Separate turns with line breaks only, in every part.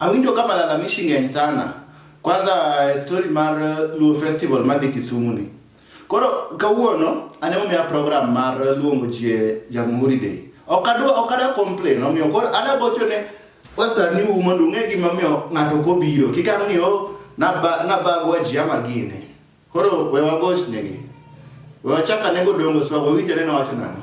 Awinjo ka malalamishi ng'eny sana. Kwanza eh, story mar eh, Luo Festival madhi Kisumu ni. Koro kawuono an ema omiya program mar luongo ji e Jamhuri Day. Ok adwa ok adwa complain omiyo koro adwa gocho ne wasani u mondo ung'e gima omiyo ng'ato ok obiro. Kik ang' ni o naba- nabagwa ji ama gine. Koro we wagoch negi. We wachak anego dongo swa wawinjore nowacho nang'o.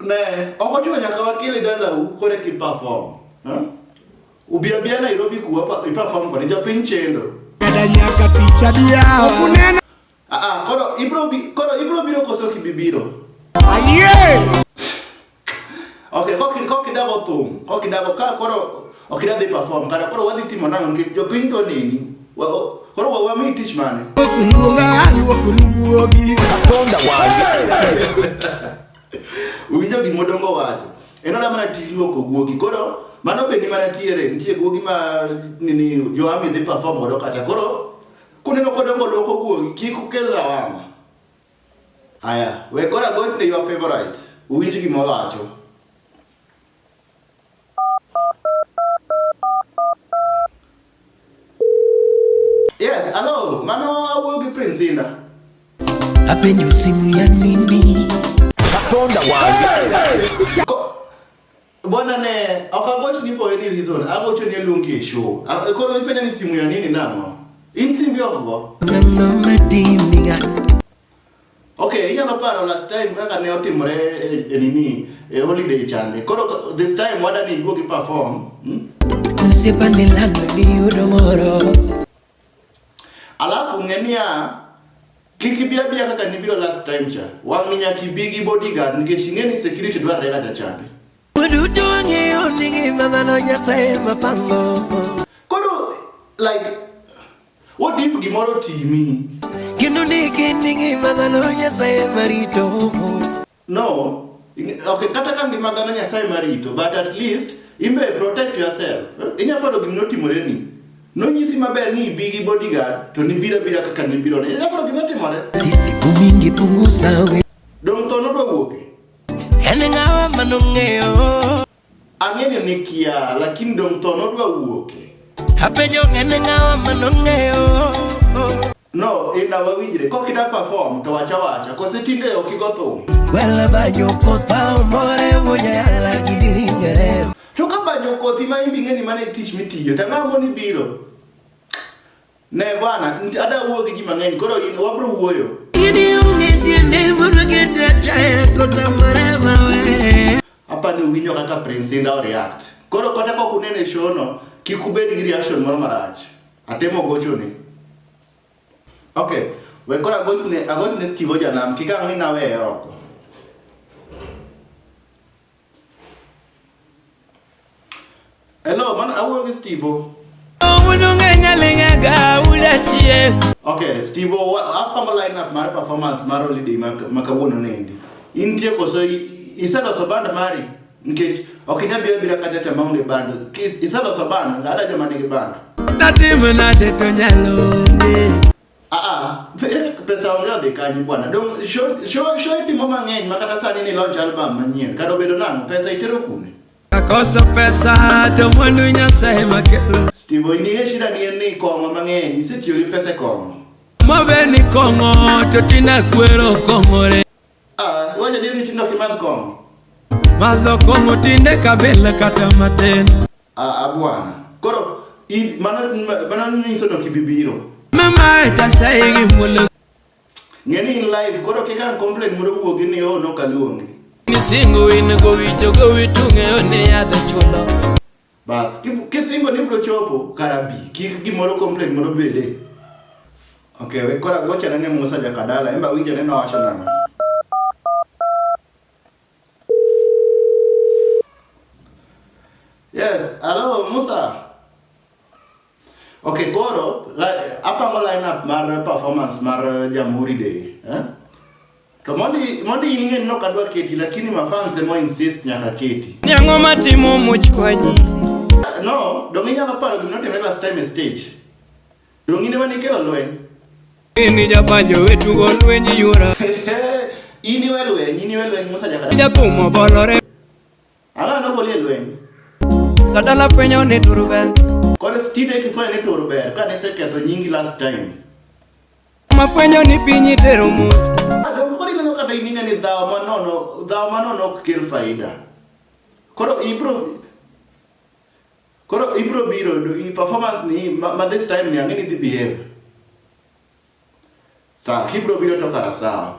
Ne, ok ochuno nyaka wakele dalau kore ki perform. Huh? Ubia bia Nairobi kuwa pa, i perform kode japiny chendo. Ada nyaka tich adiya ok unena Ah ah, koro ibro bi, koro ibro biro koso kibibiro. ayie Okay, koki koki dago thum, koki dago ka koro ok idwa dhi perform kata koro wadhi timo nang'o nikech jopiny to neni koro wa wami tich mane winjo gima odongo wacho en oda mana tij luoko guogi koro mano be ni mana tiere nitie guogi ma nini joami dhi perform godo kata koro kuneno kodongo luoko guogi kik ukel lawama Aya, we koro agochne your favorite. Uwinj gima owacho. Yes, hello. Mano awuoyo gi Prince Inda. Apenjo simu ya nini? Katonda wange. Ko- Bwana ne okagoch ni for any reason agocho ni luongi e show. Ah, Koro ipenja ni simu ya nini nang'o? In simbi ogo. Okay, inyalo paro last time kaka ne otimore e, e nini e holiday chande. Koro ko- this time wadani iduogi perform. Hmm? Osiepa ni lando diyudo moro Alafu ng'e niya, kik ibi abiya kaka nibiro last time cha. Wang' nyaka ibi gi bodyguard nikech ing'e ni security dwarore kata chande. Waduto wang'eyo ni ngima dhano Nyasaye ema pango. Koro like what if gimoro timi? Kendo ni gin ni ngima dhano Nyasaye ema rito. No, okay, kata ka ngima dhano Nyasaye marito, but at least imbe protect yourself. Eh, inya paro gima notimore ni. Nonyisi maber ni ibi gi bodyguard to nibira bira kaka nibiro ne. Inya paro gima timore. Sisi kumingi punguza we. Dong tono do wuoke. En ng'awa manong'eyo. Ang'eyo ni kia, lakini dong tono do wuoke. Apenyo en ng'awa manong'eyo. No, ina wawinjre. Kok ida perform to wacha wacha. Kose tinde ok igo thum. Wala banyo kota umore moja yala gidiringere. To ka banyo kothi ma imbi ng'eni mane tich mitiyo. Ta ng'amo ni biro. Ne bwana, ada wuo gi ji mang'eny. Koro in wabro wuoyo. Idi unge tiende mono kete chaya kota mare mawe. Apa ni uwinyo kaka Prince Inda o react. Koro kota kok unene show no, kik ubed gi reaction moro marach. Atemo gochoni. Okay, we koro agochne agochne Steve Ojanam kik ang' ni naweye oko. Hello, man awuoyo gi Steve. Okay, Steve, apango lineup mar performance mar holiday ma kawuono nendi. Intie koso iseloso band mari? Nikech ok inyal biro abira kacha cha maonge bando. Kis iseloso bando, ngada joma nigi bando. Natimo nade to nyalo nge. Ah ah, pe- pesa onge odhi kanyo bwana. Dong show show show itimo mang'eny ma kata sani ni launch album manyien. Kata obedo nang'o, pesa itero kuno. Akoso pesa to mwandu Nyasaye makelo. Steve Oinie shida ni en ni kong'o mang'eny, isetiyo gi pesa e kong'o. Mobe ni kong'o to tina kwero kong'ore. Ah, wacha dini tindo ki madh kong'o. Madho kong'o tinde kabila kata matin. Ah, ah bwana. Koro i mana mana nyiso no kibibiro. Mama eta sai gi mulo. Ngeni in live koro kika complain muro wuogi ni oh no kaluongi. Ni singo in go wito go witunge one yadho chulo. Bas, kisingo ni bro chopo karabi, kik gimoro complaint moro bede. Okay, we kora gocha ne Musa Jakadala, emba winjo ne nowacho nang'o. Yes, hello Musa. Okay, koro apango line up mar performance mar eh, Jamhuri Day. Eh? To mondi mondi in ng'e no kadwa keti lakini mafans emo insist nyaka keti. Ni ang'o matimo much kwanyi? Eh, no, donge inyalo paro gima notimre last time e stage. Donge in ema nikelo lweny. Ini japanjo wetugo lweny yuora. Ini we lweny, ini we lweny Musa Jakadala. Japumo bolore. Ang'o no golie lweny? Kadala fwenyo ni turu ber. Koro stine kifwenyo ni turu ber ka niseketho nyingi last time. Mafwenyo ni piny itero mu. Adong koro ineno kata ining'a ni dhawo manono dhawo manono ok kel faida. Koro ibro Koro ibro biro do i performance ni ma, ma this time ni ang'e ni dhi behave. Sawa, kibro biro to kara sawa.